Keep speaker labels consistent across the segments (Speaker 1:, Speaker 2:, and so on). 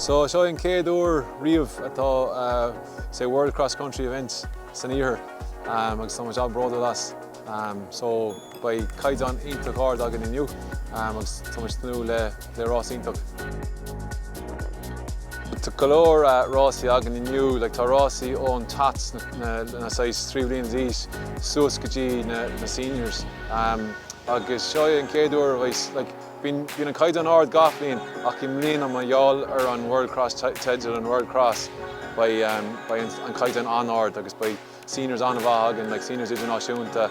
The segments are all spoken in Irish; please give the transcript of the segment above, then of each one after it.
Speaker 1: So seo é an chéad uair riamh atá say World Cross Country event san iarthar agus tá muid an-bródúil as. So beidh caighdeán iontach ard againn inniu agus tá muid ag tnúth le le rás iontach. Tá go leor rásaí againn inniu, like tá rásaí ón tots, na saghas trí bliain d'aois, suas go dtí na seniors. Agus seo é an chéad uair a bheas, like bíonn an caighdeán ard gach bhliain ach i mbliana mar gheall ar an World Cross teideal, an World Cross, beidh an caighdeán an-ard agus beidh, seniors an-mhaith againn, like seniors idirnáisiúnta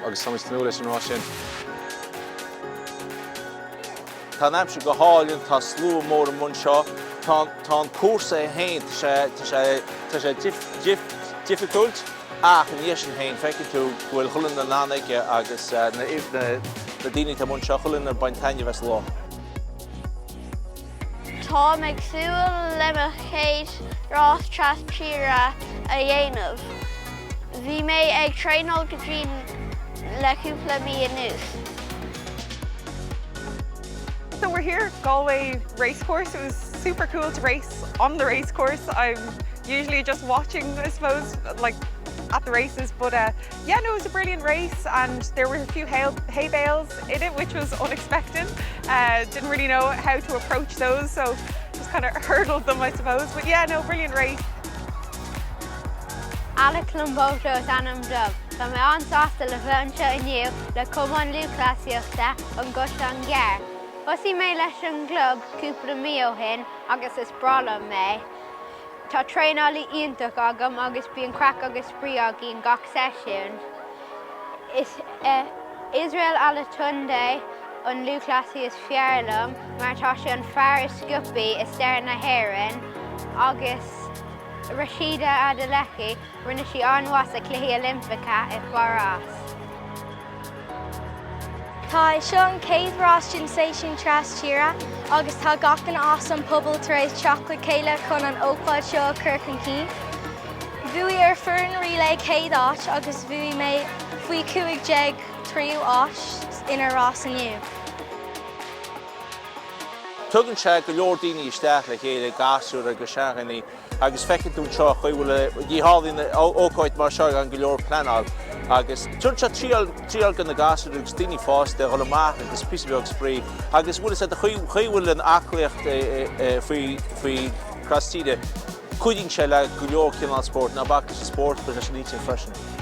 Speaker 1: agus tá muid ag tnúth leis an rás
Speaker 2: sin. Tá an aimsir go hálainn, tá slua mór amuigh anseo, tá an cúrsa é féin, tá sé difficult ach ina dhiaidh sin féin feiceann tú go bhfuil chuile dhuine in ann aige agus na daoine atá amuigh anseo, chuile dhuine ag baint taitneamh as an lá.
Speaker 3: Tá mé ag súil le mo chéad rás trastíre a dhéanamh. Bhí mé ag traenáil go dian le cúpla mí anuas.
Speaker 4: So we're here at Galway Racecourse. It was super cool to race on the racecourse. I'm usually just watching I suppose like at the races but uh Yeah no it was a brilliant race and there were a few hay hay bales in it which was unexpected uh didn't really know how to approach those so just kind of hurdled them I suppose but yeah no brilliant race.
Speaker 3: Alec Lomboto is ainm dom. Tá mé an-sásta le bheith anseo inniu le Cumann Lúthchleasaíochta an gCaisleán Gearr. Thosaigh mé leis an gclub cúpla mí ó shin agus is breá liom é. Tá traenálaí iontach agam agus bíonn craic agus spraoi againn gach seisiún. Is é Israel Olatunde an lúthchleasaí is fearr liom mar tá sé an fear is sciobthaí i stair na hÉireann agus Rhasidat Adeleke, Rinne sí an-mhaith sa Cluichí Oilimpeacha i
Speaker 5: bParás. Tá é seo an chéad rás den seisiún trastíre agus tá gach duine as an pobal tar éis teacht le chéile chun an ócáid seo a chur chun cinn. Bhuaigh ár foireann relay céad áit agus bhuaigh mé faoi 15 tríú áit ina rás inniu.
Speaker 2: Tugann sé go leor daoine isteach le chéile, gasúir agus seandaoine, Agus feicfidh tú anseo chaoi a bhfuil, ní tharlaíonn ócáid mar seo gan go leor pleanáil. Agus tugann seo triail do na gasúir agus daoine fásta a dhul amach agus píosa beag spraoi. Agus bhuel is é an chaoi a bhfuil an aclaíocht faoi trastíre, cuidíonn sé le go leor cineál spóirt. Ná bac leis an spórt, leis an intinn freisin.